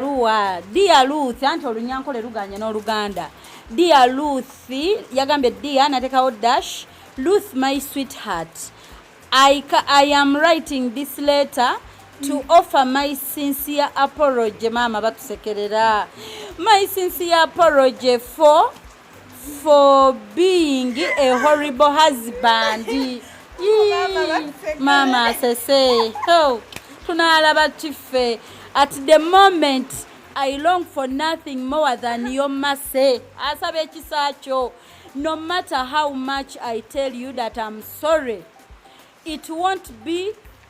ebbaluwa dia luth anti olunyankole luganye n'oluganda dia luth yagambye dia natekawo dash luth my sweetheart I, i am writing this letter to mm. offer my sincere apology maama batusekerera my sincere apology for for being a horrible husband maama asese oh, tunaalaba kiffe at the moment i long for nothing more than your mercy asaba ekisa kyo no matter how much i tell you that i'm sorry it won't be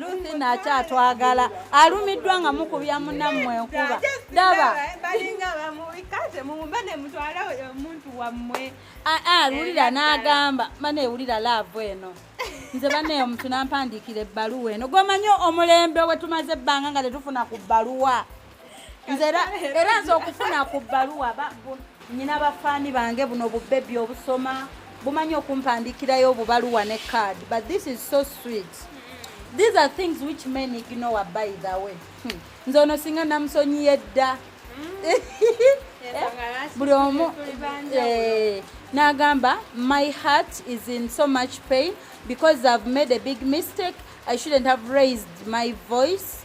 luthi nakyatwagala alumiddwa nga mukubya munammwe enkuba daba lulira n'agamba mana ewulira laavu eno nze bane omuntu nampandiikira ebbaluwa eno gwemanyi omulembe wetumaze ebbanga nga tetufuna ku bbaluwa nze era nze okufuna ku bbaluwa nyina bafaani bange buno bubebi obusoma bumanyi okumpandikirayo obubaluwa ne card but this is so sweet these are things which men ignore by the way hmm. nze ono singa namusonyiye dda buli omu eh, n'agamba my heart is in so much pain because i've made a big mistake i shouldn't have raised my voice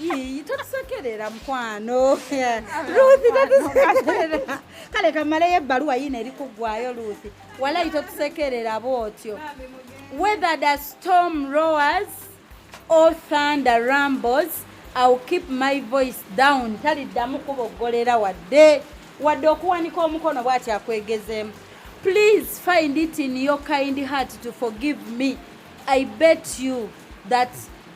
Ii, totusekerera mukwano Ruth totusekerera kale kamaleyo ebbaluwa yino eri kuggwayo Ruth walayi totusekerera bwotyo whether the storm roars or thunder rumbles I'll keep my voice down taliddamu kuboggolera wadde wadde okuwanika omukono bwati akwegezeemu please find it in your kind heart to forgive me I bet you that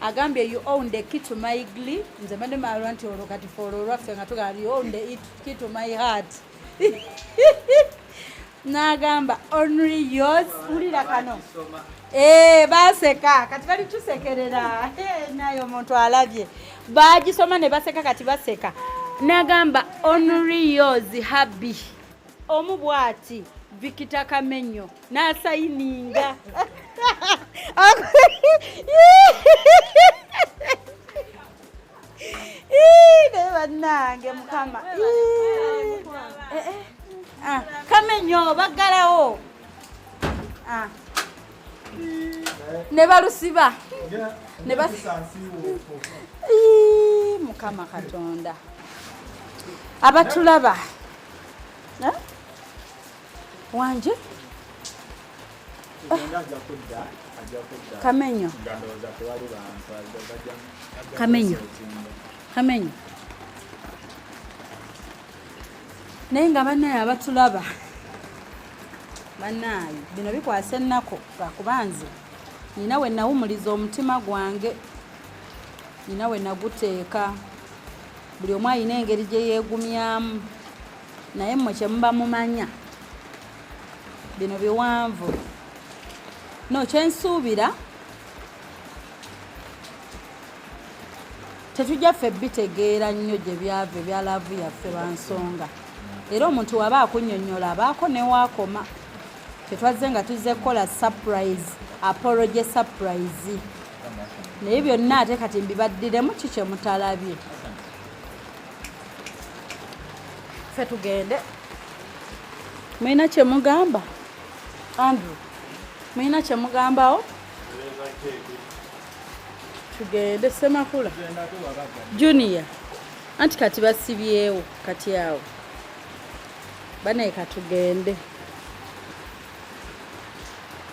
agambye you own the key to my gli nze mbadde maalwa nti olwo kati foola olwaffe nga tugamba you own the key to my heart n'agamba only yours wulira kano eh, baseka kati bali tusekerera eh, naye omuntu alabye bagisoma ne baseka kati baseka n'agamba only yours habi omu bwati vikita kamenyo n'asayininga naye bannange mukama eh, eh. ah, kamenyo baggalawo ah. ne balusiba ne mukama katonda abatulaba wangi kamenyo kamenyo kamenyo naye nga banaye abatulaba banaye bino bikwasa ennaku lwakuba nze nina we nawumuliza omutima gwange nina we naguteeka buli omu alina engeri gye yeegumyamu naye mmwe kye muba mumanya bino biwanvu no kyensuubira tetujja ffe bitegeera nnyo gye byava ebya laavu yaffe bansonga era omuntu waba akunyonyola abaako newaakoma tetwazze nga tuzze kukola surprise apology surprise naye byonna ate kati mbibaddiremu ki kyemutalabye fe tugende mulina kyemugamba andrew mulina kyemugambawo tugende semakula junior anti kati basibyewo kati awo banaye katugende